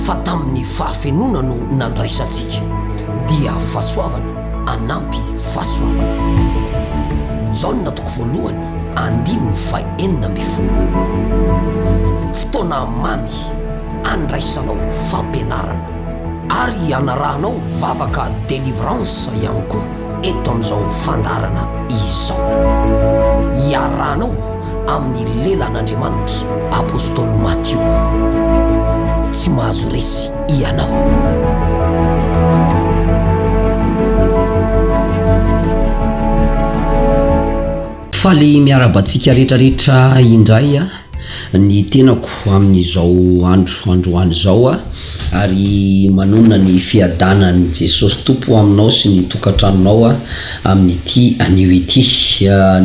Fa tamin'ny fahafenoana no nandraisantsika, dia fahasoavana anampy fahasoavana. Jaona toko voalohany andininy fahenina ambin'ny folo. Fotoana mamy andraisanao fampianarana. Ary anarahanao vavaka delivrance ihany koa. eto amin'izao fandaharana izao. Iarahanao amin'ny lelan'Andriamanitra Apostoly Matio. Tsy mahazo resy ianao. Faly miarahaba antsika rehetra rehetra indray a ny tenako amin'izao andro androany izao a ary manonona ny fiadanan'i Jesosy Tompo aminao sy ny tokantranonao a amin'ity anio ity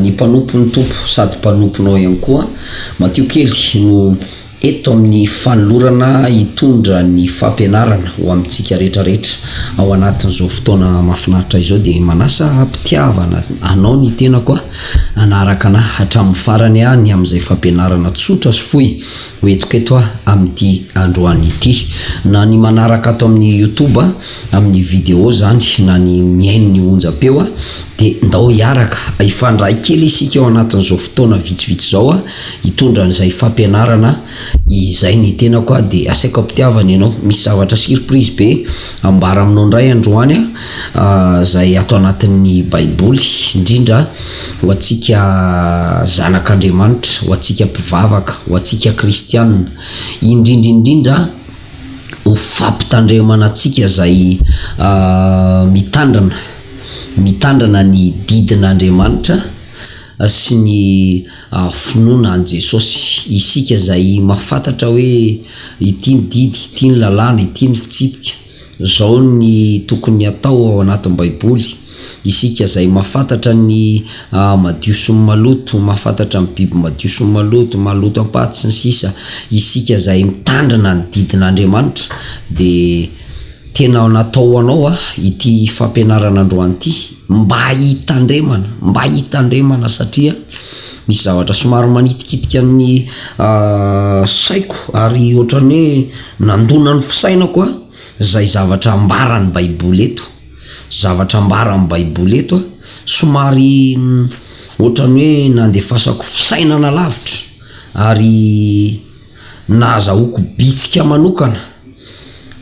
ny mpanompon'ny Tompo sady mpanomponao ihany koa matio kely no Eto amin'ny fanolorana hitondra ny fampianarana ho amintsika rehetra rehetra ao anatin'izao fotoana mahafinaritra izao dia manasa am-pitiavana anao ny tenako aho hanaraka anah hatramin'ny farany aho ny amin'izay fampianarana tsotra sy fohy ho entiko eto aho amin'ity androany ity na ny manaraka ato amin'ny youtube amin'ny vidéo izany na ny mihaino ny onjam-peo aho dia ndao hiaraka hifandray kely isika ao anatin'izao fotoana vitsivitsy izao aho hitondra an'izay fampianarana izay ny tenako aho dia asaiko ampitiavana ianao misy zavatra surprise be ambara aminao indray androany aho izay ato anatin'ny baiboly indrindra ho antsika zanak'Andriamanitra ho antsika mpivavaka ho antsika kristianina indrindra indrindra ho fampitandremana antsika izay mitandrina mitandrina ny didin'Andriamanitra sy ny Finoana an'i Jesosy. Isika izay mahafantatra hoe ity ny didy, ity ny lalàna, ity ny fitsipika, izao ny tokony hatao ao anatin'ny Baiboly, isika izay mahafantatra ny madio sy ny maloto, mahafantatra ny biby madio sy ny maloto, maloto am-paty sy ny sisa, isika izay mitandrina ny didin'Andriamanitra dia tena natao ho anao ity fampianarana androany ity. Mba hitandremana, mba hitandremana satria misy zavatra somary manitikitika ny saiko ary ohatran'ny hoe nandona ny fisainako an, izay zavatra ambaran'ny baiboly eto, zavatra ambaran'ny baiboly eto an, somary ohatran'ny hoe nandefasako fisainana lavitra ary. Na azahoako bitsika manokana,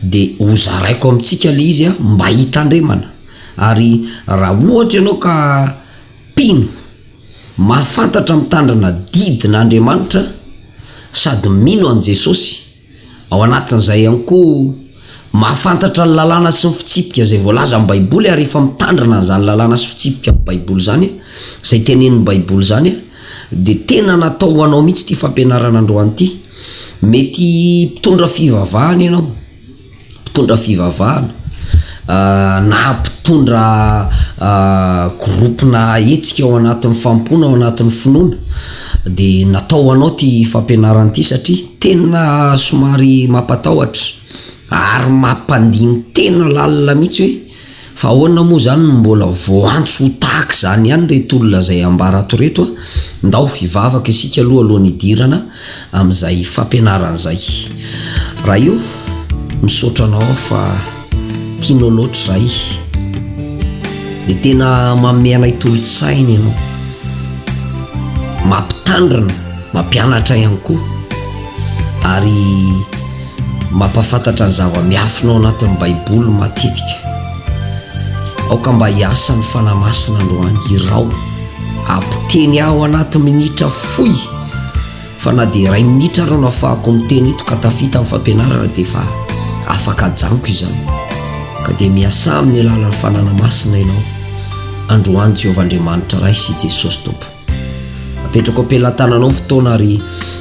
dia hozaraiko amintsika ilay izy mba hitandremana. Ary raha ohatra ianao ka mpino mahafantatra mitandrina didin'Andriamanitra sady mino an'i Jesosy, ao anatin'izay ihany koa, Mahafantatra ny lalàna sy ny fitsipika izay voalaza amin'ny Baiboly ary efa mitandrina an'izany lalàna sy fitsipika amin'ny Baiboly izany, izay tenenin'ny Baiboly izany, dia tena natao ho anao mihitsy ity fampianarana androany ity. Mety mpitondra fivavahana ianao, mpitondra fivavahana, na mpitondra groupe-na hetsika ao anatin'ny fanompoana, ao anatin'ny finoana, dia natao ho anao ity fampianarana ity satria. Tena somary mampatahotra ary mampandini tena lalina mihitsy hoe fa ahoana moa izany no mbola voantso ho tahaka izany ihany ireto olona izay ambara ato ireto a! Ndao hivavaka isika aloha alohan'ny hidirana amin'izay fampianarana izay. Ra io, misaotra anao aho fa. Tianao loatra izahay Dia tena manome anay tolon-tsaina ianao Mampitandrina, mampianatra ihany koa Ary mampahafantatra ny zava-miafina ao anatin'ny Baiboly matetika Aoka mba hiasa ny Fanahy Masina androany Irao Ampiteny ahy ao anaty minitra fohy Fa na dia iray minitra ary no afahako miteny eto ka tafita amin'ny fampianarana dia efa afaka ajanoko izany. Ka dia miasà amin'ny alalan'ny Fanana Masina ianao. Androany Jehovah Andriamanitra Ray sy Jesosy Tompo. Apetrako am-pelatananao ny fotoana ary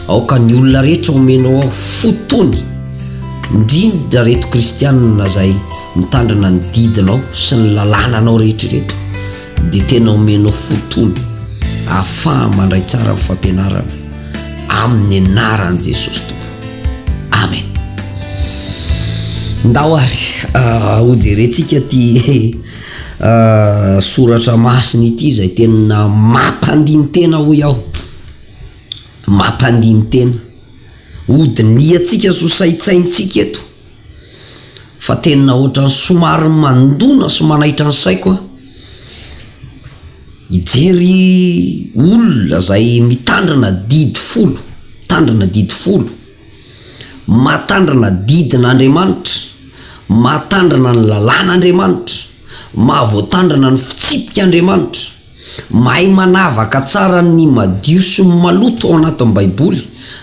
aoka ny olona rehetra omenao aho fo tony, indrindra reto kristianina izay mitandrina ny didinao sy ny lalànanao rehetra ireto. dia tena omenao fotoana ahafaha mandray tsara ny fampianarana amin'ny anaran'i Jesosy Tompo. Amen. Ndao ary ah, hojerentsika ty ah, soratra masina ity izay tena mampandiny tena hoy aho. Mampandiny tena. Hodinihantsika sosaitsaintsika eto. Fa tena ohatran'ny somary mandona sy manaitra ny saiko an! Hijery olona izay mitandrina adidy folo, mitandrina adidy folo, mahatandrina didin'Andriamanitra, mahatandrina ny lalàn'Andriamanitra, mahavoatandrina ny fitsipik'Andriamanitra. Mahay manavaka tsara ny madio sy ny maloto ao anatin'ny Baiboly,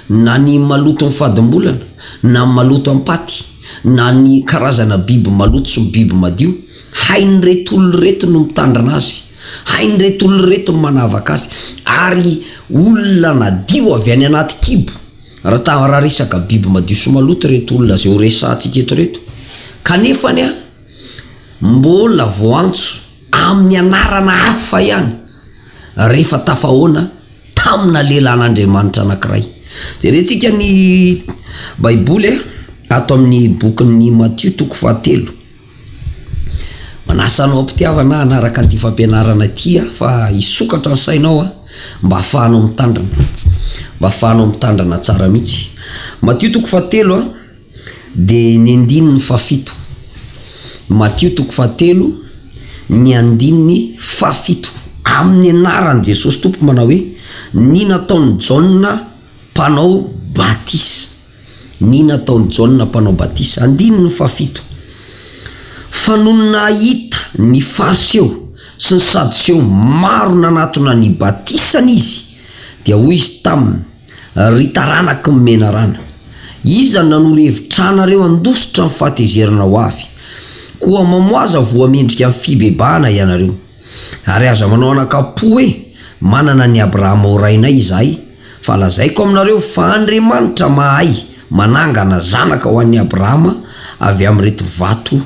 na ny maloton'ny fadim-bolana, na ny maloto am-paty, na ny karazana biby maloto sy biby madio. Hain'ireto olona ireto ny mitandrina azy. Hain'ireto olona ireto ny manavaka azy. Ary olona nadio avy any anaty kibo, raha ta, raha resaka biby madio sy maloto ireto olona izay horesahantsika eto ireto. Kanefany, mbola vao antso. amin'ny anarana hafa ihany, rehefa tafahoana tamina lehilahin'Andriamanitra anankiray. Jerentsika ny Baiboly ato amin'ny bokin'i Matio toko fahatelo. Manasa anao am-pitiavana aho hanaraka ity fampianarana ity aho fa hisokatra ny sainao mba hahafahanao mitandrina, mba hahafahanao mitandrina tsara mihitsy. Matio toko fahatelo. Dia ny andininy fahafito. Matio toko fahatelo, ny andininy fahafito. Amin'ny anaran'i Jesosy Tompo manao hoe, ny nataon'i Jaona mpanao batisa. Ny nataon'i Jaona mpanao batisa. Andininy fahafito. Fa nony nahita ny Fariseo sy ny Sadoseo maro nanatona ny batisany Izy, dia hoy Izy taminy, Ry taranak'i Menarana, iza no nanoro hevitrà nareo handositra ny fahatezerana ho avy? Koa mamoaza voa mendrika ny fibebahana ianareo. Ary aza manao anakam-po hoe, Manana an'i Abrahama ho rainay izahay, fa lazaiko aminareo fa Andriamanitra mahay manangana zanaka ho an'i Abrahama avy amin'ireto vato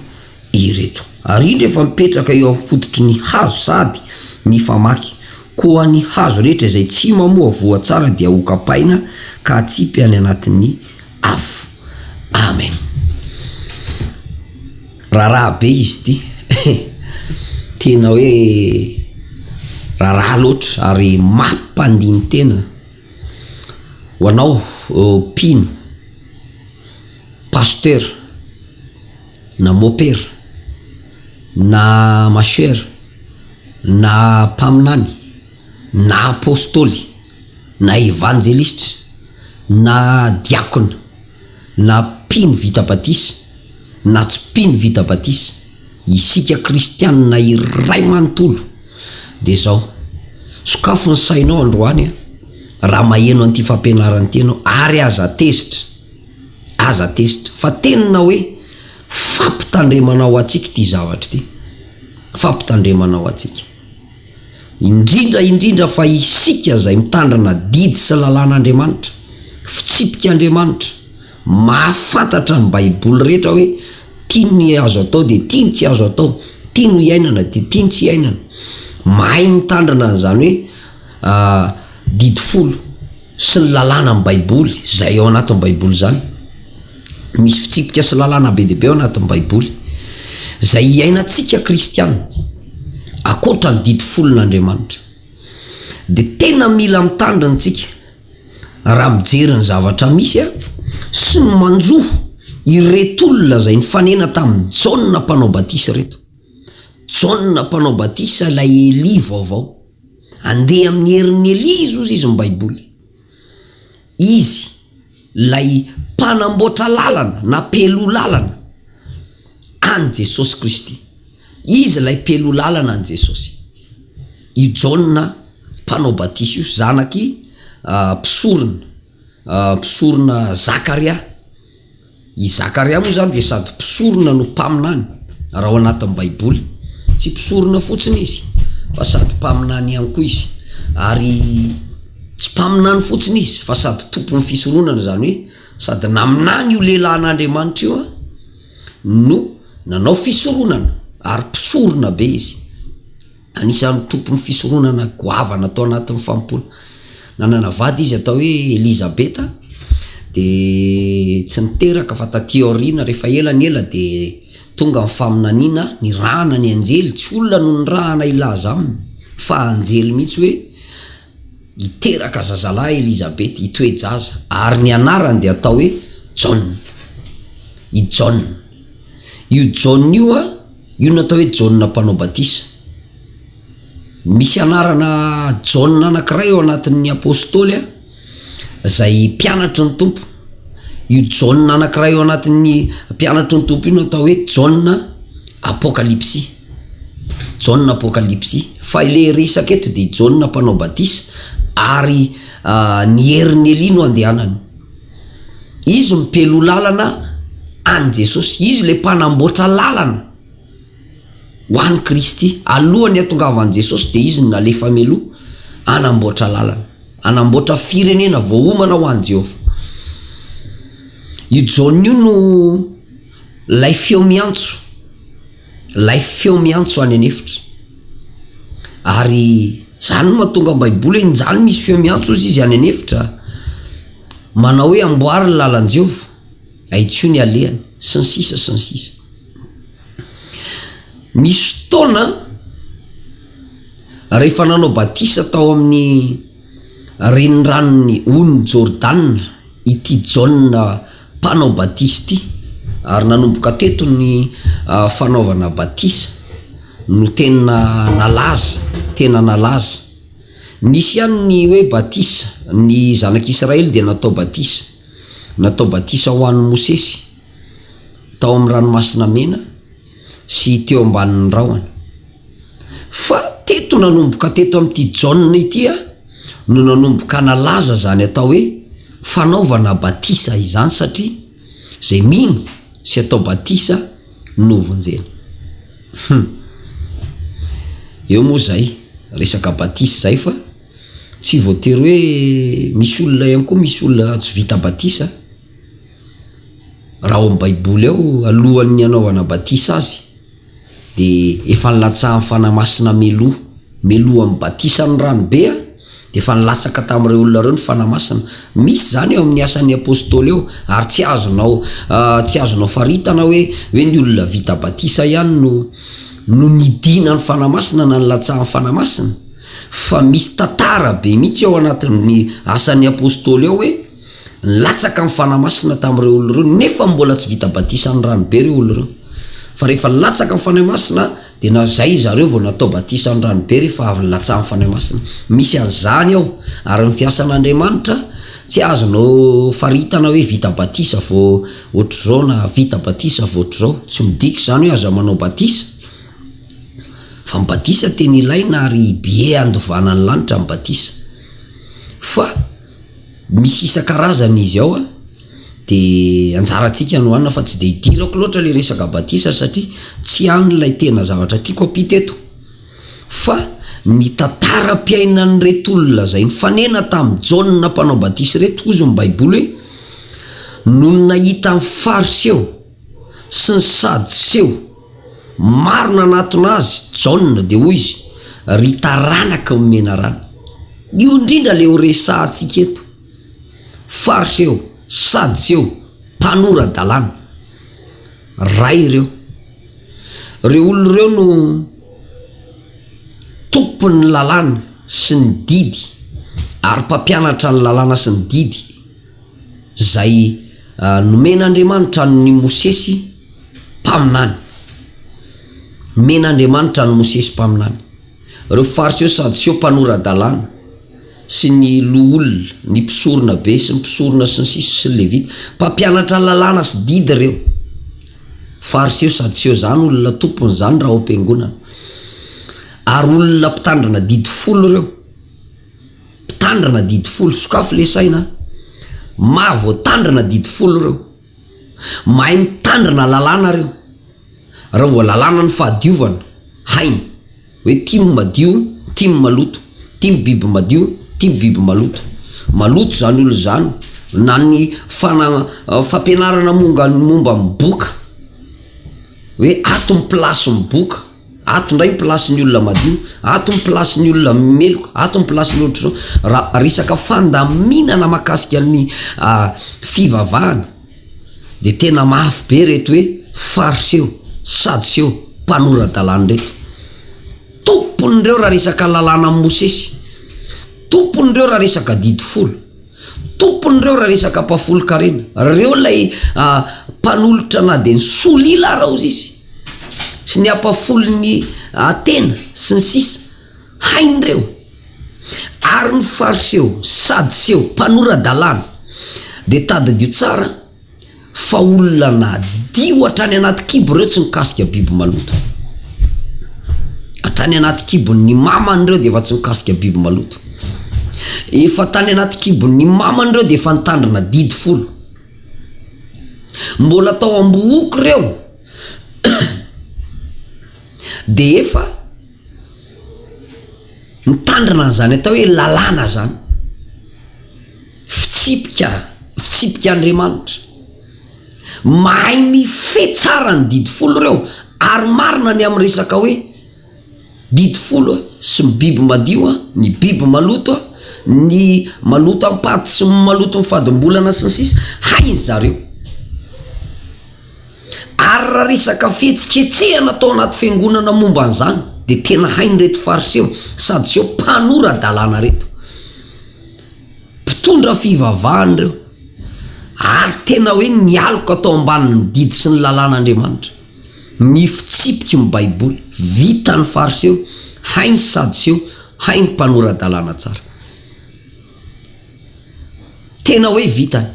ireto. Ary indro efa mipetraka eo amin'ny fototry ny hazo sady mifamaky, koa ny hazo rehetra izay tsy mamoa voa tsara dia hokapaina ka hatsipy any anatin'ny afo. Amen. Raharaha be izy ity eh! Tena hoe raharaha loatra ary mampandini-tena ho anao mpino. Pasitera, na mopera, na mashera, na mpaminany, na apôstôly, na evanjelistra, na diakona, na mpino vita batisa, na tsy mpino vita batisa, isika kristianina iray manontolo dia izao, sokafo ny sainao androany raha maheno an'ity fampianaran'ity ianao ary aza tezitra. Aza tezitra fa tenina hoe fampitandremana ho antsika ity zavatra ity. Fampitandremana ho antsika. Indrindra indrindra fa isika izay mitandrina didy sy lalàn'Andriamanitra, fitsipik'Andriamanitra, mahafantatra ny Baiboly rehetra hoe ity ny azo atao dia ity ny tsy azo atao, ity no iainana dia ity ny tsy iainana. Mahay mitandrina an'izany hoe didy folo. sy ny lalàna amin'ny Baiboly, izay ao anatin'ny Baiboly izany. Misy fitsipika sy lalàna be dia be ao anatin'ny Baiboly, izay hiainantsika kristiana, ankoatra ny didy folon'Andriamanitra. Dia tena mila mitandrina antsika, raha mijery ny zavatra misy sy ny manjo ireto olona izay nifanena tamin'i Jaona Mpanao Batisa ireto. Jaona Mpanao Batisa ilay Elia vaovao. Andeha amin'ny herin'i Elia izy hozy izy ny baiboly. Izy ilay mpanamboatra lalana na pelou lalana any Jesosy Kristy. Izy ilay pelou lalana any Jesosy. Io Jaona mpanao batisa io zanak'i mpisorona mpisorona Zakaria. I Zakaria moa izany dia sady mpisorona no mpaminany, raha ao anatin'ny Baiboly. Tsy mpisorona fotsiny izy, fa sady mpaminany ihany koa izy. Ary tsy mpaminany fotsiny izy, fa sady tompon'ny fisoronana, izany hoe sady naminany io lehilahin'Andriamanitra io no nanao fisoronana, ary mpisorona be izy. Anisan'ny tompon'ny fisoronana goavana tao anatin'ny famompona. Nanana vady izy atao hoe Elizabeta, dia tsy niteraka fa taty aoriana, rehefa ela ny ela dia tonga ny faminaniana nirahana ny anjely, tsy olona no nirahana hilaza aminy fa anjely mihitsy hoe, Niteraka zazalahy Elizabeta, i toe-jaza, ary ny anarany dia atao hoe Jaona. I Jaona. Io Jaona io, io no atao hoe Jaona Mpanao Batisa. Misy anarana Jaona anankiray ao anatin'ny Apôstôly, izay mpianatry ny Tompo. Io Jaona anankiray ao anatin'ny mpianatry ny Tompo io no atao hoe Jaona Apôkalipsy. Jaona Apokalypsy, fa ilay resaka eto dia Jaona mpanao batisa ary ny herin'i Elia no andehanany. Izy mipelou lalana an'i Jesosy, izy ilay mpanamboatra lalana ho an'i Kristy. Alohan'ny hatongavan'i Jesosy dia izy no nalefa mialoha hanamboatra lalana, hanamboatra firenena voaomana ho an'i Jehovah. Io Jaona io no. Lay feo miantso, lay feo miantso any an'efitra, ary zany no mahatonga ny baiboly hoe njany misy feo miantso ozy izy any an'efitra manao hoe amboary ny lalan-jeova ahitsio ny alehany sy ny sisa sy ny sisa nisy fotoana rehefa nanao batisa tao amin'ny Reniranon'ny onin'i Jordana ity Jaona Mpanao Batisa ity, ary nanomboka teto ny fanaovana batisa no tena nalaza, tena nalaza. Nisy ihany ny hoe batisa, ny zanak'Israely dia natao batisa, natao batisa ho an'i Mosesy. tao amin'ny Ranomasina Mena sy teo ambanin'ny rahona. Fa teto nanomboka teto amin'ity Jaona ity aho no nanomboka nalaza izany atao hoe fanaovana batisa izany satria izay mino sy atao batisa no vonjena. Hum. Eo moa izay resaka batisa izay fa tsy voatery hoe misy olona ihany koa misy olona tsy vita batisa. Raha ao amin'ny Baiboly ao, alohan'ny hanaovana batisa azy, dia efa nilatsahan'ny Fanahy Masina mialoha. Mialoha amin'ny batisan'ny ranobe, dia efa nilatsaka tamin'ireo olona ireo ny Fanahy Masina. Misy izany eo amin'ny Asan'ny Apôstôly eo, ary tsy azonao tsy azonao faritana hoe hoe ny olona vita batisa ihany no no nidina ny Fanahy Masina na nilatsahan'ny Fanahy Masina, fa misy tantara be mihitsy ao anatin'ny Asan'ny Apôstôly ao hoe, Latsaka ny Fanahy Masina tamin'ireo olona ireo nefa mbola tsy vita batisan'ny ranobe ireo olona ireo. Fa rehefa latsaka ny Fanahy Masina dia na izay zareo vao natao batisan'ny ranobe rehefa avy nilatsahan'ny Fanahy Masina. Misy an'izany ao. Ary ny fiasan'Andriamanitra tsy azonao faritana hoe vita batisa vao ohatr'izao na vita batisa vao ohatr'izao. Tsy midika izany hoe aza manao batisa. Fa ny batisa tena ilaina ary be handovana ny lanitra ny batisa. Fa. Misy isan-karazany izy ao a, de anjarantsika no hanina fa tsy dia idirako loatra le resaka batisa satria tsy hany ilay tena zavatra tiako ampita eto, fa ny tantaram-piainan'ireto olona izay nifanena tamin'i Jaona mpanao batisa ireto hozy ny baiboly hoe, nony nahita ny fariseo sy ny sadoseo, Maro nanatona azy Jaona dia hoy izy, Ry taranaka ho menarana. Io indrindra ilay ho resahantsika eto. Fariseo, Sadiseo, mpanora-dalàna. Ray ireo. Ireo olona ireo no tompon'ny lalàna sy ny didy ary mpampianatra ny lalàna sy ny didy. izay nomen'Andriamanitra an'i Mosesy mpaminany. Nomen'Andriamanitra an'i Mosesy mpaminany. Ireo Fariseo, Sadoseo, mpanora-dalàna sy ny loholona, ny mpisorona be sy ny mpisorona sy ny sisa sy ny Levita. Mpampianatra lalàna sy didy ireo. Fariseo, Sadoseo, izany olona tompony izany raha ao am-piangonana. Ary olona mpitandrina didy folo ireo. Mpitandrina adidy folo sokafy le saina a! Maha voatandrina adidy folo reo. Mahay mitandrina lalàna reo. Reo vao lalàna ny fahadiovana, hainy. Hoe tim madio, tim maloto. Tim biby madio, tim biby maloto. Maloto zany olona zany. Na ny fanagna fampianarana monga momba ny boka. Hoe ato ny place ny boka. Ato ndray ny place ny olona madio, ato ny place ny olona meloka, ato ny place ny ohatr'izao. Raha resaka fandaminana mahakasika ny fivavahana de tena mafy be reto hoe fariseo, sadoseo, mpanora-dalàna reto. Tompon'ireo raha resaka lalàna an'i Mosesy, tompon'ireo raha resaka adidy folo, tompon'ireo raha resaka mpahafolon-karena, reo lay mpanolotra na de ny solila ara-ozizy. sy ny ampahafolon'ny Atena sy ny sisa Hain'ireo ary ny Fariseo, Sadiseo, mpanora-dalàna dia tadidio tsara fa olona nadio hatrany anaty kibo ireo tsy mikasika biby maloto. Hatrany anaty kibon'ny mamany ireo dia efa tsy mikasika biby maloto. Efa tany anaty kibon'ny mamany ireo dia efa nitandrina didy folo. Mbola tao am-bohoko ireo dia efa mitandrina an'izany atao hoe lalàna izany. Fitsipika, fitsipik'Andriamanitra. Mahay mifehy tsara ny didy folo ireo ary marina ny amin'ny resaka hoe Didy folo sy ny biby madio, ny biby maloto, ny maloto am-paty sy ny maloto ny fadim-bolana sy ny sisa hainy zareo. Ary raha resaka fihetsiketsehana tao anaty fiangonana momba an'izany dia tena hain'ireto Fariseo, Sadioseo mpanora dalàna ireto. Mpitondra fivavahana ireo ary tena hoe nialoka tao ambanin'ny didy sy ny lalàn'Andriamanitra. Ny fitsipiky ny baiboly vitan'ny fariseo hain'ny sadoseo hain'ny mpanora-dalàna tsara. Tena hoe vitany.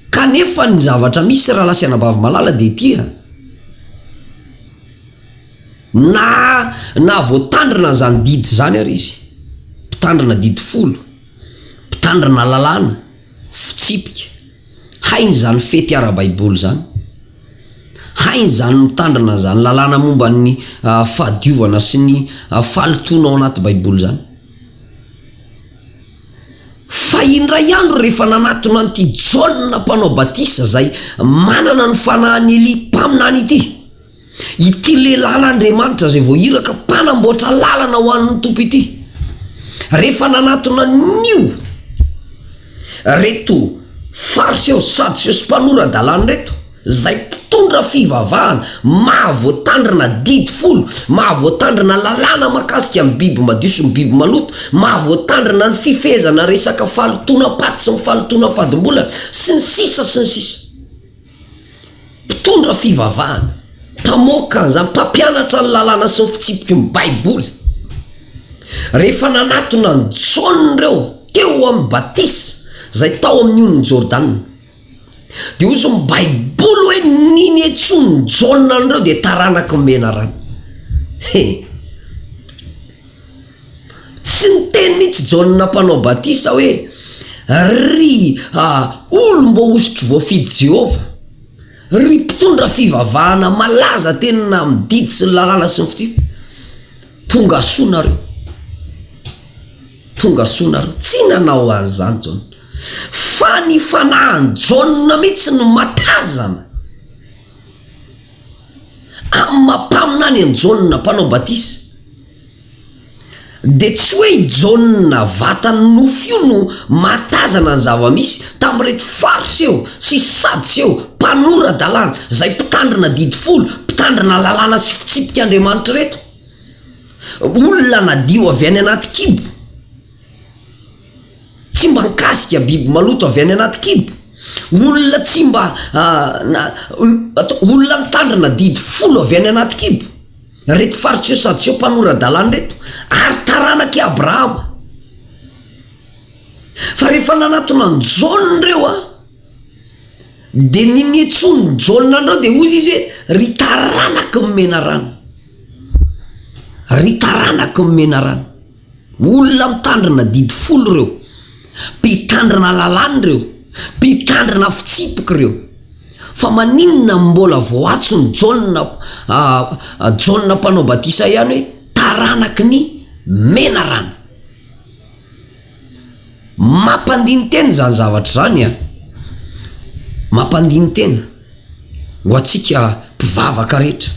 Kanefa ny zavatra misy rahalahy sy anabavy malala dia ity a. Na na voatandrina an'izany didy izany ary izy, mpitandrina didy folo, mpitandrina lalàna. Fitsipika, Hay izany fety ara-baiboly izany! Hay izany mitandrina izany lalàna momba ny fahadiovana sy ny fahalotoana ao anaty baiboly izany! Fa indray andro rehefa nanatona an'ity Jaona mpanao batisa izay manana ny fanahin'i Elia mpaminany ity, Ity lehilahin'Andriamanitra izay voairaka mpanamboatra lalana ho an'ny Tompo ity, rehefa nanatona an'io reto Fariseo sy Sadoseo sy mpanora-dalàna ireto, izay mpitondra fivavahana maha voatandrina didy folo, maha voatandrina lalàna mahakasika ny biby madio sy ny biby maloto, maha voatandrina ny fifehezana resaka fahalotoanam-paty sy ny fahalotoana fadim-bolana, sy ny sisa sy ny sisa. Mpitondra fivavahana, mpamoaka, izany mpampianatra ny lalàna sy ny fitsipiky ny baiboly. Rehefa nanatona an'i Jaona ireo teo amin'ny batisa izay tao amin'ny ony Jordana, dia hoy izy ny baiboly hoe ny niantsoan'i Jaona an'ireo dia taranaky ny menarana. He. Tsy niteny mihitsy Jaona Mpanao Batisa hoe, Ry olom-boahosotry voafidy Jehovah, ry mpitondra fivavahana malaza teny na amin'ny didy sy ny lalàna sy ny fitsipika, tongasoa nareo. Tongasoa nareo. Tsy nanao an'izany Jaona. Fa ny fanahin'i Jaona mihitsy no matazana. Amin'ny maha-mpaminany an'i Jaona Mpanao Batisa. Dia tsy hoe i Jaona vatan'ny nofo io no mahatazana ny zava-misy tamin'ireto Farsa eo sy Sadsa eo, mpanora-dalàna, izay mpitandrina Didy Folo, mpitandrina lalàna sy fitsipik'Andriamanitra ireto. Olona nadio avy any anaty kibo. Tsy mba nikasika biby maloto avy any anaty kibo. Olona tsy mba, olona nitandrina Didy Folo avy any anaty kibo. Ireto Fariseo Sadiseho mpanora-dalàna ireto, ary taranak'i Abrahama. Fa rehefa nanatona an'i Jaona ireo, dia ninian-tsony Jaona an'ireo, dia hoy izy hoe, Ry taranaky ny menarana! Ry taranaky ny menarana! Olona mitandrina adidy folo ireo, mpitandrina lalàna ireo, mpitandrina fitsipika ireo. Fa maninona no mbola vao antson'i Jaona, ah, Jaona Mpanao Batisa ihany hoe taranaky ny menarana? Mampandini-tena izany zavatra izany, an! Mampandini-tena ho antsika mpivavaka rehetra,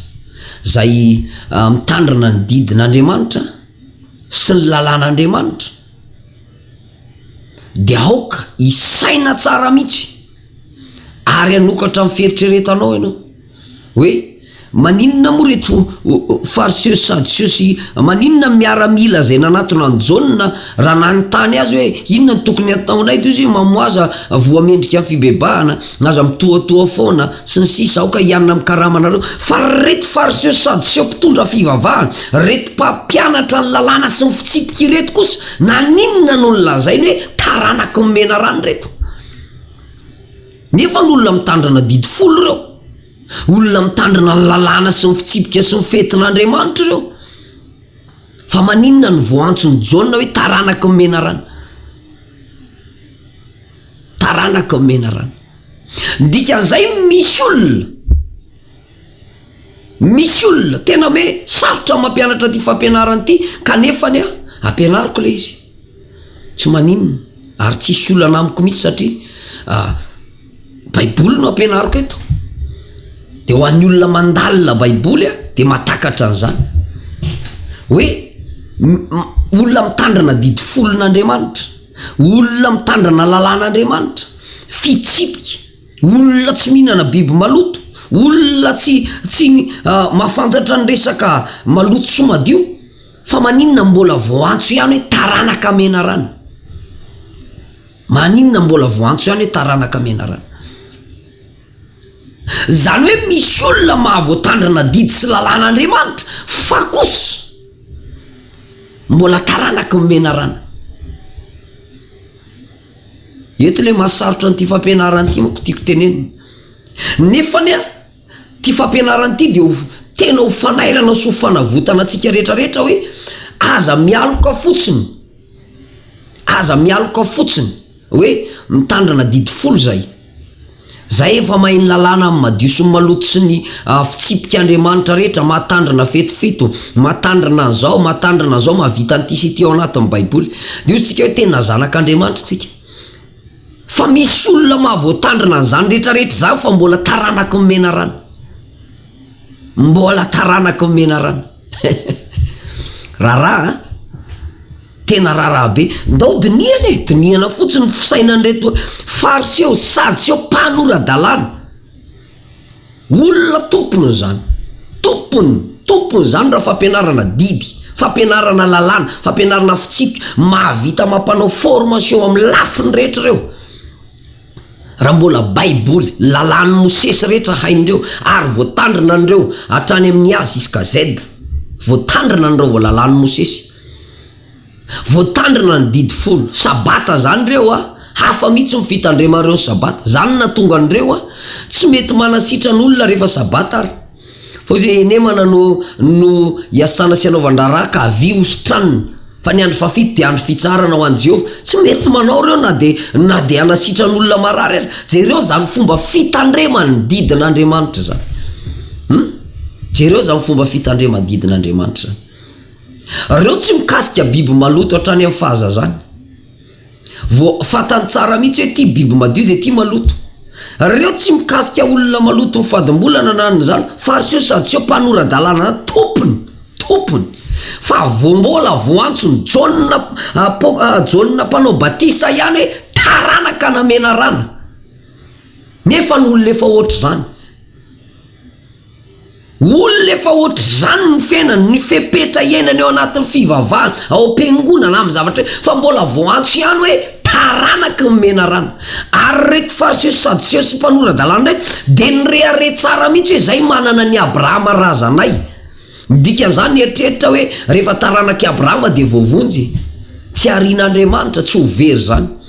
izay mitandrina ny didin'Andriamanitra. sy ny lalàn'Andriamanitra dia aoka hisaina tsara mihitsy ary hanokatra ny fieritreretanao ianao hoe maninona moa ireto fariseo sy sadiseo sy maninona miaramila izay nanatona an'i Jaona raha nanontany azy hoe inona no tokony hataonay toy izy hoe mamoaza voa mendrika fibebahana Aza mitohatoha foana, sy ny sisa Aoka hianina amin'ny karamanareo Fa ry reto fariseo sadoseo mpitondra fivavahana, reto mpampianatra ny lalàna sy ny fitsipika ireto kosa naninona no nolazainy hoe taranak'i menarana ireto? Nefa ny olona mitandrina didy folo ireo, olona mitandrina ny lalàna sy ny fitsipika sy ny fetin'Andriamanitra ireo. Fa maninona no voaantson'i Jaona hoe taranak'i menarana? Taranaka ao Menarana. Ny dikan'izay misy olona, misy olona tena hoe sarotra ny mampianatra an'ity fampianarana ity kanefany aho ampianariko ilay izy, tsy maninona ary tsy hisy olana amiko mihitsy satria baiboly no ampianariko eto, dia ho an'ny olona mandalina baiboly aho dia mahatakatra an'izany hoe olona mitandrina didy folon'Andriamanitra. Olona mitandrana lalàn'Andriamanitra, fitsipika, olona tsy mihinana biby maloto, olona tsy tsy mahafantatra ny resaka maloto sy madio, fa maninona no mbola voantso ihany hoe taranaka menarana? Maninona no mbola voantso ihany hoe taranaka menarana? Izany hoe misy olona mahavoatandrina didy sy lalàn'Andriamanitra fa kosa mbola taranaky ny menarana. Eto ilay mahasarotra an'ity fampianarana ity manko tiako tenenina. Nefa anie ity fampianarana ity dia ho tena ho fanairana sy ho fanavotana antsika rehetra rehetra hoe aza mialoka fotsiny, aza mialoka fotsiny. Hoe mitandrina didy folo izay. Izay efa mahay ny lalàna amin'ny madio sy ny maloto sy ny fitsipika Andriamanitra rehetra, mahatandrina fety fito, mahatandrina an'izao, mahatandrina an'izao, mahavita an'ity sy ity ao anatin'ny Baiboly. Dihosintsika hoe tena zanak'Andriamanitra isika. Fa misy olona mahavoatandrina an'izany rehetrarehetra izany fa mbola taranaky ny menarana. Mbola taranaky ny menarana. Raharaha an! Tena raharaha be. Ndao dinihana e, dinihana fotsiny ny fisainan'ireto fariseo sy sadiseo mpanora-dalàna. Olona tompony izany. Tompony, tompony izany raha fampianarana didy, fampianarana lalàna, fampianarana fitsipika, mahavita mampanao formation amin'ny lafiny rehetra ireo. Raha mbola Baiboly, ny lalàn'i Mosesy rehetra hain'ireo, ary voatandrina an'ireo hatrany amin'ny A ziska Z. Voatandrina an'ireo vao lalàn'i Mosesy. Voatandrina ny Didy Folo. Sabata izany ireo a! Hafa mihitsy ny fitandreman'ireo ny Sabata. Izany no nahatonga an'ireo a! Tsy mety manasitrana olona rehefa Sabata ary. Fa hoy izy hoe, Henemana no no iasana sy anaovan-draharaha ka avia hositranina. Fa ny andro fahafito dia andro fitsaharana ho an'i Jehovah. Tsy mety manao ireo na dia na dia hanasitran'olona marary aza. Jereo izany fomba fitandreman'ny didin'Andriamanitra izany. Humm. Jereo izany fomba fitandreman'ny didin'Andriamanitra izany. Ireo tsy mikasika biby maloto hatrany amin'ny fahazazany. Vao fantany tsara mihitsy hoe ity biby madio dia ity maloto. Reo tsy mikasika olona maloto ho fadim-bolana na an'izany fa ry seo sady seo mpanora-dalàna tompony, tompony. Fa vao mbola vao antso ny Jaona apo- Jaona mpanao batisa ihany hoe taranaka namenarana. Nefa ny olona efa ohatr'izany. Olona efa ohatr'izany ny fiainany, ny fepetra iainany ao anatin'ny fivavahana, ao am-piangonana, amin'ny zavatra hoe fa mbola vao antso ihany hoe taranaky ny menarana. Ary ireto Fariseo sy Sadoseo sy mpanora-dalàna ireto dia nirehareha tsara mihitsy hoe izay manana an'i Abrahama razanay. Ny dikan'izany nieritreritra hoe rehefa taranak'i Abrahama dia voavonjy e! Tsy harian'Andriamanitra, tsy ho very izany.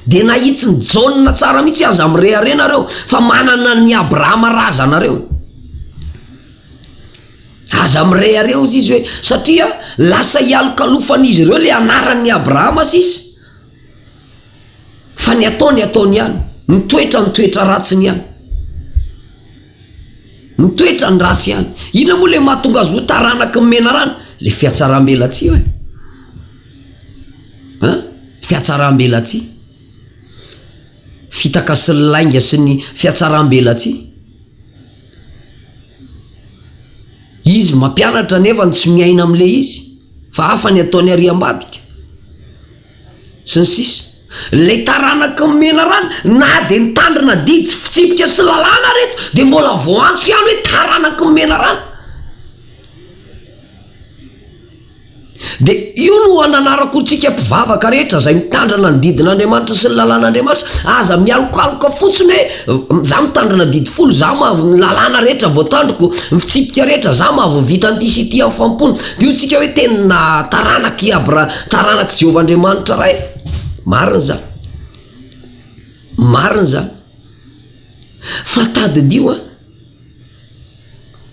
Dia nahitsin'i Jaona tsara mihitsy, Aza mirehareha nareo fa manana an'i Abrahama razanareo. Aza mirehareha hozy izy hoe satria lasa ialokalofan'izy ireo ilay anaran'i Abrahama sisa fa ny ataony ataony ihany, ny toetrany ny toetra ratsiny ihany. Ny toetrany ratsy ihany. Inona moa ilay mahatonga azy ho taranaky ny menarana? Ilay fihatsaram-belatsihy hoy. fihatsaram-belatsihy, fitaka sy ny lainga sy ny fihatsaram-belatsihy. Izy mampianatra nefa tsy miaina amin'ilay izy fa hafa ny ataony ary ambadika sy ny sisa. Ilay taranaka ny menarana na dia nitandrina didy sy fitsipika sy lalàna ary ireto dia mbola vao antso ihany hoe taranaka ny menarana. Dia io no ananarako ho antsika mpivavaka rehetra izay mitandrina ny didin'Andriamanitra sy ny lalàn'Andriamanitra. Aza mialokaloka fotsiny hoe, izaho mitandrina didy folo, izaho mahavy ny lalàna rehetra voatandriko, ny fitsipika rehetra, izaho mahavita an'ity sy ity amin'ny fanompoana. Dia hoy isika hoe, tena taranak'i Abra-, taranak'i Jehovah Andriamanitra Ray. Marina izany. Marina izany. Fa tadidio an!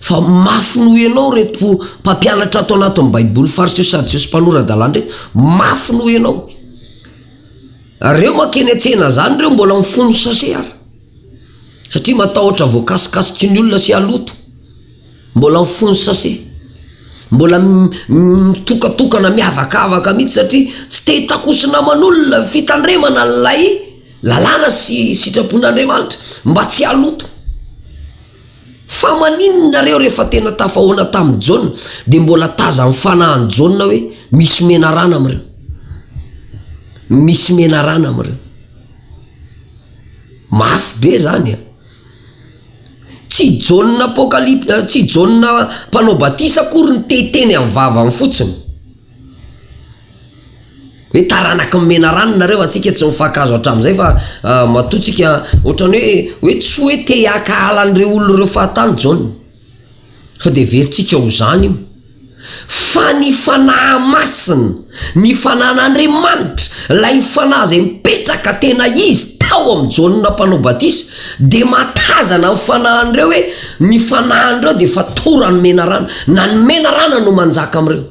Fa mafy noho ianao ireto mpampianatra ato anatin'ny Baiboly, Fariseo, Sadoseo sy mpanora-dalàna ireto. Mafy noho ianao. Ary ireo mankeny an-tsena izany ireo mbola mifono sase ary. Satria matahotra voakasikasiky ny olona sy haloto. Mbola mifono sase. Mbola mitokatokana, miavakavaka mihitsy satria tsy te-hitakosina aman'olona ny fitandremana ilay. Lalàna sy sitrapon'Andriamanitra mba tsy haloto. Fa maninona nareo rehefa tena tafahoana tamin'i Jaona dia mbola tazan'ny fanahin'i Jaona hoe misy menarana amin'ireo. Misy menarana amin'ireo. Mafy be izany an! Tsy Jaona apokalipsy, tsy Jaona mpanao batisa akory no te hiteny amin'ny vavany fotsiny. Hoe taranaka ny menarana nareo antsika tsy mifankahazo hatramin'izay fa matoa tsika ohatran'ny hoe hoe tsy hoe te hakahala an'ireo olona ireo fahatany John fa de heverintsika ho zany io fa ny fanahy masina ny fanan'Andriamanitra ilay fanahy izay mipetraka tena izy tao amin'i John mpanao batisa dia mahatazana ny fanahin'ireo hoe Ny fanahin'ireo dia efa toran'ny menarana, na ny menarana no manjaka amin'ireo.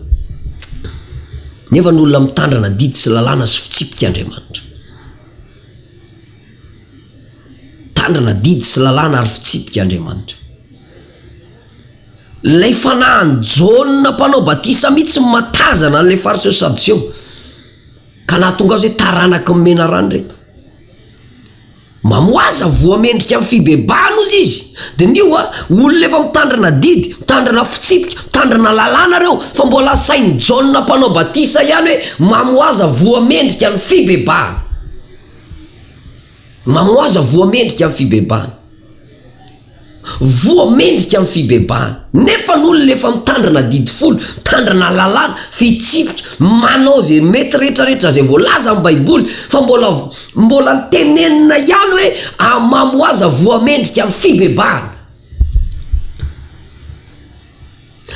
Nefa ny olona mitandrana didy sy lalàna sy fitsipika Andriamanitra. Mitandrana didy sy lalàna ary fitsipika Andriamanitra. Ilay fanahin'i Jaona mpanao batisa mihitsy no mahatazana an'ilay Fariseo sy Sadoseo, ka nahatonga azy hoe taranaky ny menarana ireto. Mamoaza voa mendrika ny fibebahana ozy izy. Diniho a, olona efa mitandrina didy, mitandrina fitsipika, mitandrina lalàna ireo, fa mbola sain'i Jaona Mpanao Batisa ihany hoe mamoaza voa mendrika ny fibebahana. Mamoaza voa mendrika ny fibebahana. Voa mendrika amin'ny fibebahana. Nefa ny olona efa mitandrina adidy folo, mitandrina lalàna, fitsipika, manao izay mety rehetra rehetra izay voalaza amin'ny baiboly, fa mbola mbola tenenina ihany hoe hamamo ho aza voa mendrika amin'ny fibebahana.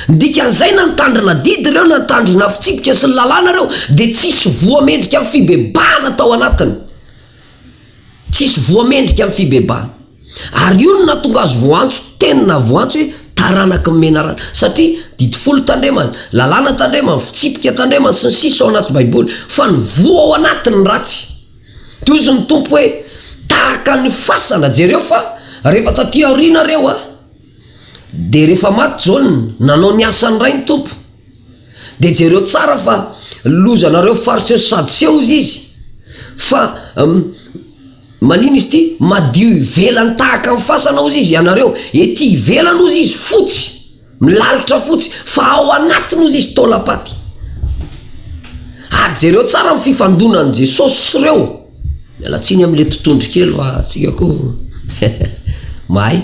Ny dikan'izay na nitandrina adidy ireo na nitandrina fitsipika sy ny lalàna ireo dia tsy hisy voa mendrika amin'ny fibebahana tao anatiny. Tsy hisy voa mendrika amin'ny fibebahana. Ary io no nahatonga azy voantso, tena voantso hoe taranaky ny menarana. Satria didy folo tandremana, lalàna tandremana, fitsipika tandremana, sy ny sisa ao anaty Baiboly. Fa ny voa ao anatiny ny ratsy. Dia hozy ny Tompo hoe, Tahaka ny fasana, jereo fa rehefa taty aoriana ireo, Dia rehefa maty Jaona, nanao ny asany ray ny Tompo. Dia jereo tsara fa lozanareo Fariseo sy Sadoseo ozy izy. Fa manino izy ity? Madio ivelany tahaka ny fasana ozy izy ianareo. Ety ivelany ozy izy fotsy, milalitra fotsy, fa ao anatiny ozy izy taolam-paty. Ary jereo tsara ny fifandonan'i Jesosy sy ireo. Miala tsiny am le totondry kely fa tsika ko mahay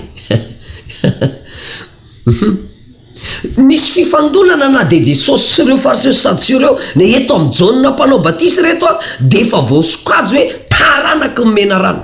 Nisy fifandonana na dia Jesosy sy ireo Fariseo sy Sadoseo ireo, na eto amin'i Jaona Mpanao Batisa ireto ary dia efa voasokajy hoe taranak'i Menarana.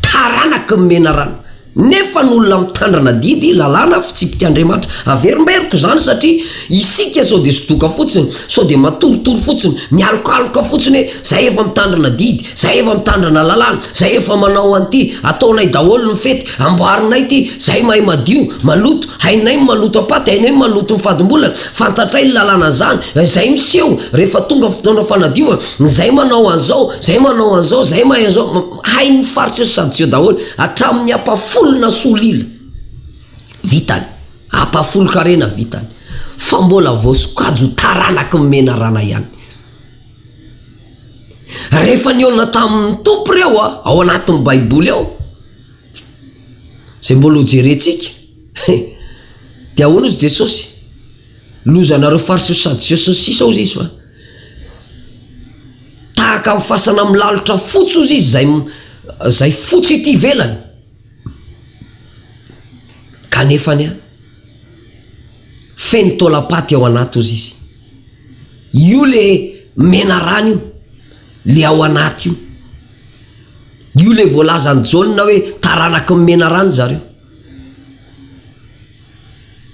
Taranaky ny menarana. Nefa ny olona mitandrina didy, lalàna, fitsipik'Andriamanitra. Averimberiko izany satria isika sao dia sodoka fotsiny, sao dia matoritory fotsiny, mialokaloka fotsiny hoe izay efa mitandrina didy, izay efa mitandrina lalàna, izay efa manao an'ity, ataonay daholo ny fety, amboarinay ity, izay mahay madio, maloto, hainay ny maloto am-paty, hainay ny maloto ny fadim-bolana, fantatray ny lalàna an'izany, izay miseho rehefa tonga fotoana fanadiovana. Ny zay manao an'izao, zay manao an'izao, zay mahay an'izao, hain'ny faritra io sady zio daholo, hatramin'ny ampahafolona solila vitany, ampahafolon-karena vitany, fa mbola vao sokajo taranaky ny menarana ihany. Rehefa nihaona tamin'ny Tompo ireo ao anatin'ny Baiboly ao, izay mbola ho jerentsika, dia ahoana hozy Jesosy? Lozanareo Fariseo sy Sadoseo sy ny sisa hozy izy fa. Tahaka ny fasana milalotra fotsy ozy izy izay izay fotsy ety ivelany. Kanefa anie, feno taolam-paty ao anaty ozy izy. Io le menarana io, le ao anaty io. Io le voalazan'i Jaona hoe taranaky ny menarana zareo.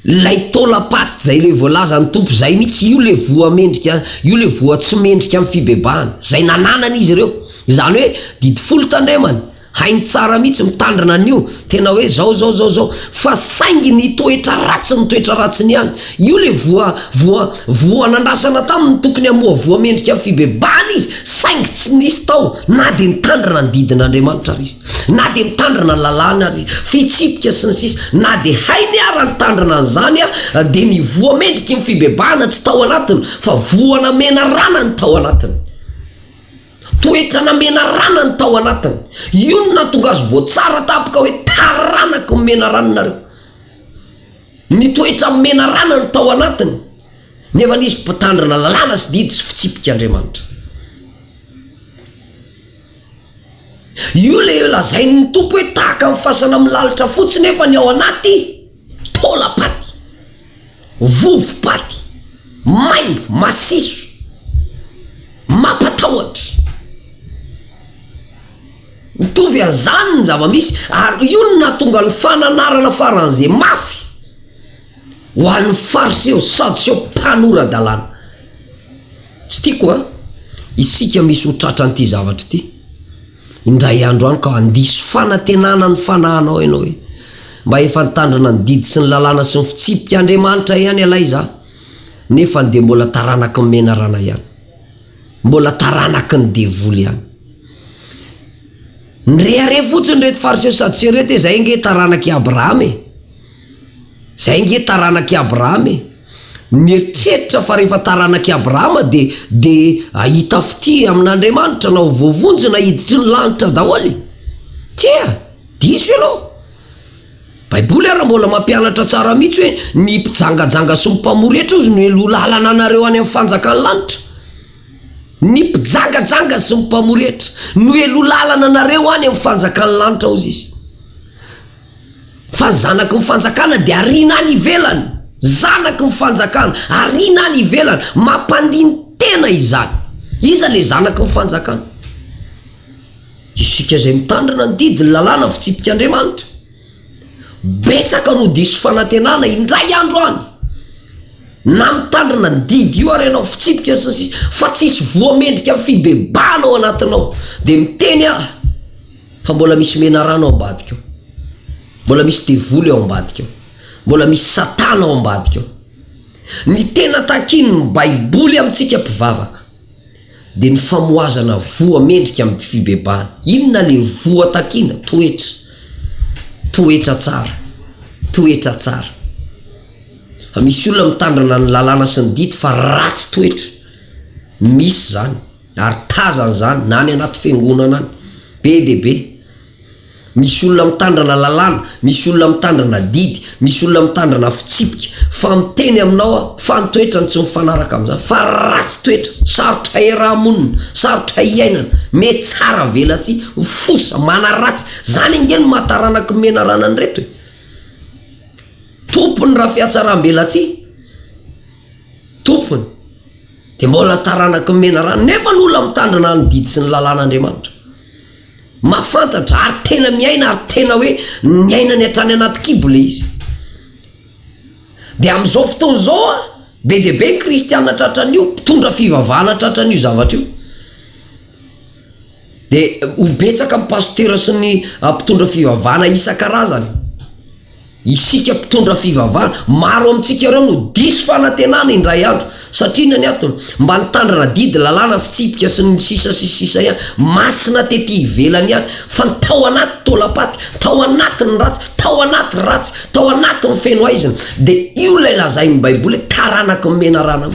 Ilay taola paty izay ilay voalazan'ny Tompo izay mihitsy, io ilay voa mendrika, io ilay voa tsy mendrika amin'ny fibebahana, izay nananany izy ireo. Izany hoe didy folo tandremany, hainy tsara mihitsy mitandrina an'io, tena hoe izao, izao, izao, izao. Fa saingy ny toetra ratsiny, ny toetra ratsiny ihany, io ilay voa, voa, voa nandrasana taminy, tokony hamoa voa mendrika amin'ny fibebahana izy, saingy tsy nisy tao, na dia nitandrina ny didin'Andriamanitra ary izy. Na dia mitandrina ny lalàna ary, fitsipika sy ny sisa Na dia hainy ara ny tandrina an'izany ary dia ny voa mendriky ny fibebahana tsy tao anatiny fa voa namena rana ny tao anatiny. Toetra namena rana ny tao anatiny. Io no nahatonga azy voatsara tampoka hoe taranak'i Momena rano nareo. Ny toetra momena rana ny tao anatiny nefa ny izy mpitandrina lalàna sy didy sy fitsipika Andriamanitra. Io le lazain'ny Tompo hoe tahaka ny fasana milalotra fotsy nefa ny ao anaty taolam-paty, vovo-paty, maimbo, masiso, mampatahotra. Mitovy an'izany ny zava-misy ary io no nahatonga ny fananarana faran'ze mafy ho an'ny Fariseo, Sadoseo, mpanora-dalàna. Tsy tiako an! Isika misy ho tratran'ity zavatra ity indray andro any ka handiso fanantenana ny fanahinao ianao hoe mba efa nitandrina ny didy sy ny lalàna sy ny fitsipika Andriamanitra ihany ialahy za nefa dia mbola taranaky ny menarana ihany, mbola taranaky ny devoly ihany. Nirehareha fotsiny ireto Fariseo sy Sadoseo ireto hoe izay ange taranak'i Abrahama e! Izay ange taranak'i Abrahama e! Mieritreritra fa rehefa taranak'i Abrahama dia dia hahita fitia amin'Andriamanitra na ho voavonjina hiditry ny lanitra daholo e! Tsia! Diso ianao! Baiboly ary mbola mampianatra tsara mihitsy hoe ny mpijangajanga sy ny mpamory hetra hozy no heloha lalana anareo any amin'ny fanjakan'ny lanitra. Ny mpijangajanga sy ny mpamory hetra no heloha lalana anareo any amin'ny fanjakan'ny lanitra hozy izy. Fa ny zanaky ny fanjakana dia ariana any ivelany. Zanaky ny fanjakana, ariana any ivelany. Mampandini-tena izany. Iza ilay zanaky ny fanjakana? Isika izay mitandrina ny didy, ny lalàna, ny fitsipik' Andriamanitra. Betsaka no diso fanantenana indray andro any, na mitandrina ny didy io ary ianao, fitsipika sy ny sisa, fa tsisy voa mendrika ny fibebahana ao anatinao. Dia miteny aho. Fa mbola misy menarana ao ambadika ao. Mbola misy devoly ao ambadika ao. Mbola misy Satana ao ambadika ao. Ny tena takian'ny Baiboly amintsika mpivavaka dia ny famohazana voa mendrika amin'ny fibebahana. Inona ilay voa takiana? Toetra. Toetra tsara. Toetra tsara. Fa misy olona mitandrina ny lalàna sy ny didy fa ratsy toetra. Misy izany. Ary tazany izany na any anaty fiangonana any, be dia be. Misy olona mitandrina lalàna, misy olona mitandrina didy, misy olona mitandrina fitsipika, fa miteny aminao aho fa ny toetrany tsy mifanaraka amin'izany, fa ratsy toetra, sarotra hiaraha-monina, sarotra hiainana, mety tsara avelatsihy, fosa, manaratsy, izany ange no maha taranak'i Menarana an'ireto e! Tompony raha fihatsaram-belatsihy, tompony. Dia mbola taranaky ny menarana nefa ny olona mitandrina ny didy sy ny lalàn'Andriamanitra. Mahafantatra ary tena miaina ary tena hoe niainany hatrany anaty kibo ilay izy. Dia amin'izao fotoana izao an, be dia be ny kristiana tratran'io, mpitondra fivavahana tratran'io zavatra io. Dia ho betsaka ny pasitera sy ny mpitondra fivavahana isan-karazany. Isika mpitondra fivavahana, maro amintsika ireo no diso fanantenana indray andro. Satria inona ny antony? Mba nitandrina didy, lalàna, fitsipika sy ny sisa sy ny sisa ihany. Masina tety ivelany ihany, fa ny tao anaty taolam-paty, tao anaty ny ratsy, tao anaty ratsy, tao anaty ny feno haizina. Dia io ilay lazain'ny Baiboly hoe taranaky ny menarana.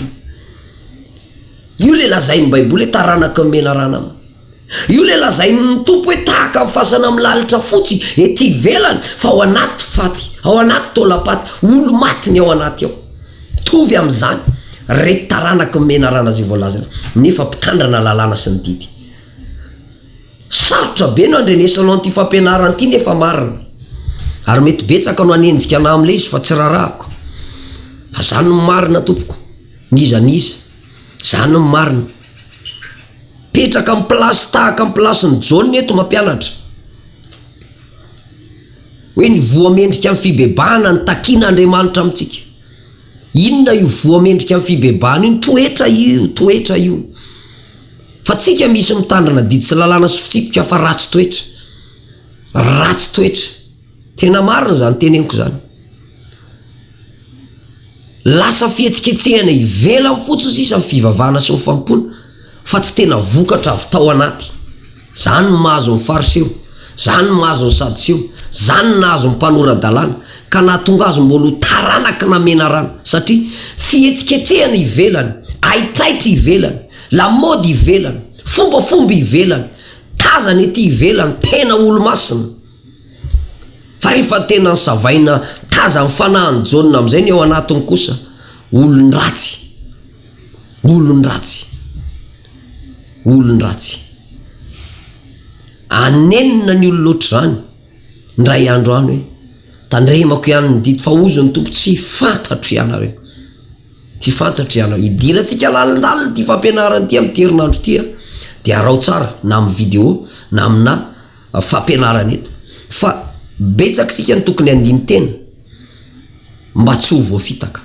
Io ilay lazain'ny Baiboly hoe taranaky ny menarana. Io ilay lazain'ny Tompo hoe tahaka ny fasana milalitra fotsy ety ivelany fa ao anaty faty, ao anaty taolam-paty, olo-maty ny ao anaty ao. Mitovy amin'izany ireto taranaky ny menarana izay voalazana nefa mpitandrina lalàna sy ny didy. Sarotra be no andrenesanao an'ity fampianarana ity nefa marina ary mety betsaka no hanenjika anà amin'ilay izy fa tsy rarahako. Fa izany no marina tompoko, n'iza n'iza. Izany no marina. Petraka am place tahaka am place ny John eto mampianatra hoe ny voa mendrika ny fibebahana ny takiana Andriamanitra amintsika inona io voa mendrika ny fibebahana iny toetra io toetra io fa tsika misy mitandrina didy sy lalàna sy fitsipika fa ratsy toetra ratsy toetra Tena marina izany teneniko izany. Lasa fihetsiketsehana ivelany fotsiny sisa ny fivavahana sy ny fanompoana fa tsy tena vokatra avy tao anaty. Izany no mahazo ny Fariseo, izany no mahazo ny Sadoseo, izany no nahazo ny mpanora-dalàna ka nahatonga azy mbola ho taranak'i namenarana satria fihetsiketsehana ivelany, haitraitra ivelany, lamaody ivelany, fombafomba ivelany, tazana ety ivelany, tena olo-masina. Fa rehefa tena nosavaina taza ny fanahin'i Jaona amin'izay ny ao anatiny kosa, olon-dratsy, olon-dratsy, olon-dratsy. Anenina ny olona ohatr'izany, indray andro any hoe, Tandremako ihany ny didy, fa hozy ny Tompo, tsy fantatro ianareo. Tsy fantatro ianareo. Hidirantsika lalindalina ity fampianarana ity amin'ity herinandro ity, dia araho tsara na amin'ny vidéo na aminà. fampianarana eto fa betsaka isika no tokony handini-tena mba tsy ho voafitaka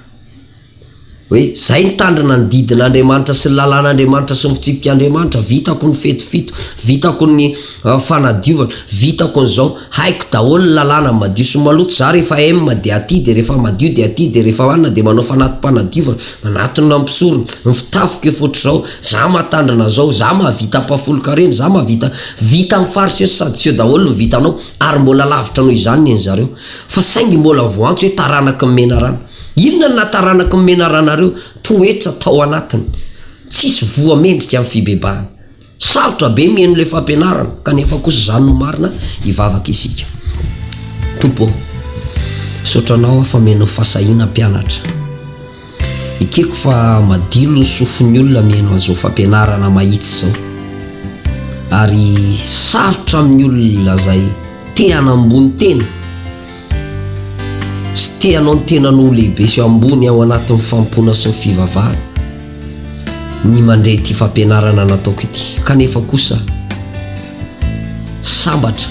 hoe zay nitandrina ny didin'Andriamanitra sy ny lalàn'Andriamanitra sy ny fitsipik'Andriamanitra, vitako ny fety fito, vitako ny fanadiovana, vitako ny zao, haiko daholo ny lalàna madio sy maloto za rehefa M dia aty dia rehefa madio dia aty dia rehefa Anna dia manao fanatim-panadiovana, manatona ny mpisorona, ny fitafiko efa ohatr'izao, za mahatandrina zao, za mahavita ampahafolon-karena, za mahavita Vita am fariseo sy sadiseo daholo ny vitanao ary mbola lavitra noho izany ny an'zareo. Fa saingy mbola voantso hoe taranaky ny menarana. Inona ny naha taranaky ny menarana reo? Toetra tao anatiny. Tsisy voa mendrika am fibebahana. Sarotra be mihaino le fampianarana kanefa kosa zany no marina hivavaka isika. Tompo ô! Misaotra anao aho fa omena fasahiana mpianatra. Ekeko fa madilo ny sofin'ny olona mihaino an'izao fampianarana mahitsy izao. Ary sarotra amin'ny olona izay te hanambony tena sy te hanao ny tenany ho lehibe sy ambony ao anatin'ny fanompoana sy ny fivavahana ny mandre ity fampianarana nataoko ity. Kanefa kosa sambatra.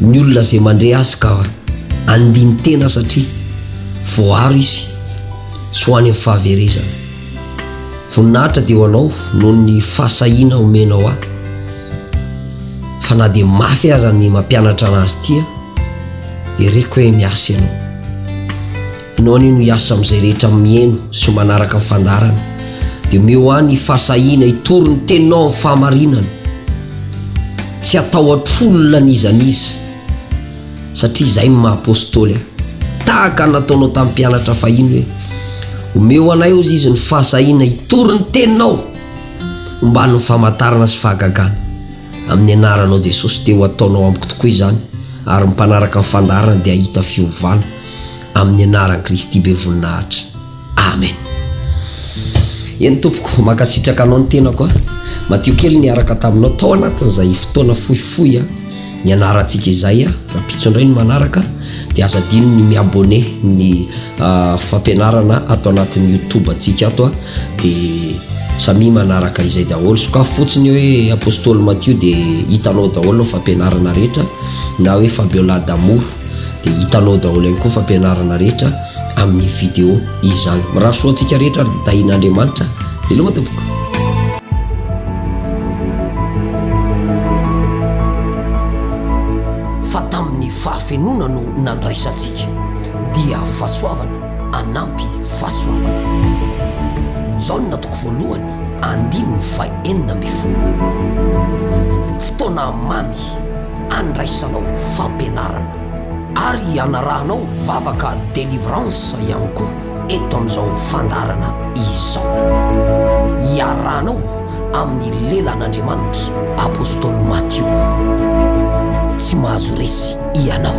ny olona izay mandre azy ka andinin-tena satria voaro izy tsy ho any amin'ny fahaverezana. Voninahitra dia ho anao noho ny fahasahiana omenao ahy fa na dia mafy aza ny mampianatra an'azy ity aho dia reko hoe miasa ianao. Enao anie no hiasa amin'izay rehetra miheno sy manaraka ny fandaharana, dia omeo ahy ny fahasahiana hitory ny Teninao amin'ny fahamarinana. Tsy hatahotr'olona n'iza n'iza, satria izay no maha-Apôstôly ahy. Tahaka ny nataonao tamin'ny mpianatra fahiny hoe, Omeo anay, hozy izy, ny fahasahiana hitory ny Teninao omban'ny famantarana sy fahagagana. Amin'ny Anaranao Jesosy, dia ho ataonao amiko tokoa izany, ary ny mpanaraka ny fandaharana dia hahita fiovana. amin'ny anaran'i Kristy be voninahitra. Amen. Eny tompoko, mankasitraka anao ny tenako a. Madio kely niaraka taminao tao anatin'izay fotoana fohifohy a. Nianarantsika izay a. Rahampitso indray ny manaraka dia aza adino ny mi-abonné ny ah, fampianarana ato anatin'ny YouTube antsika ato a. Dia samia manaraka izay daholo. Sokafy fotsiny hoe Apostoly Matio dia hitanao daholo ny fampianarana rehetra na hoe Fabiola d'amour. dia hitanao daholo ihany koa fampianarana rehetra amin'ny vidéo izany mirary soa antsika rehetra ary dia tahin'Andriamanitra veloma tompoko fa tamin'ny fahafenoana no nandraisantsika dia fahasoavana anampy fahasoavana Jaona toko voalohany andininy fahenina ambin'ny folo fotoana mamy handraisanao fampianarana ary hianarahanao vavaka délivrance ihany koa eto amin'izao fandaharana izao. Iarahanao amin'ny lelan'Andriamanitra Apostoly Matio. Tsy mahazo resy ianao.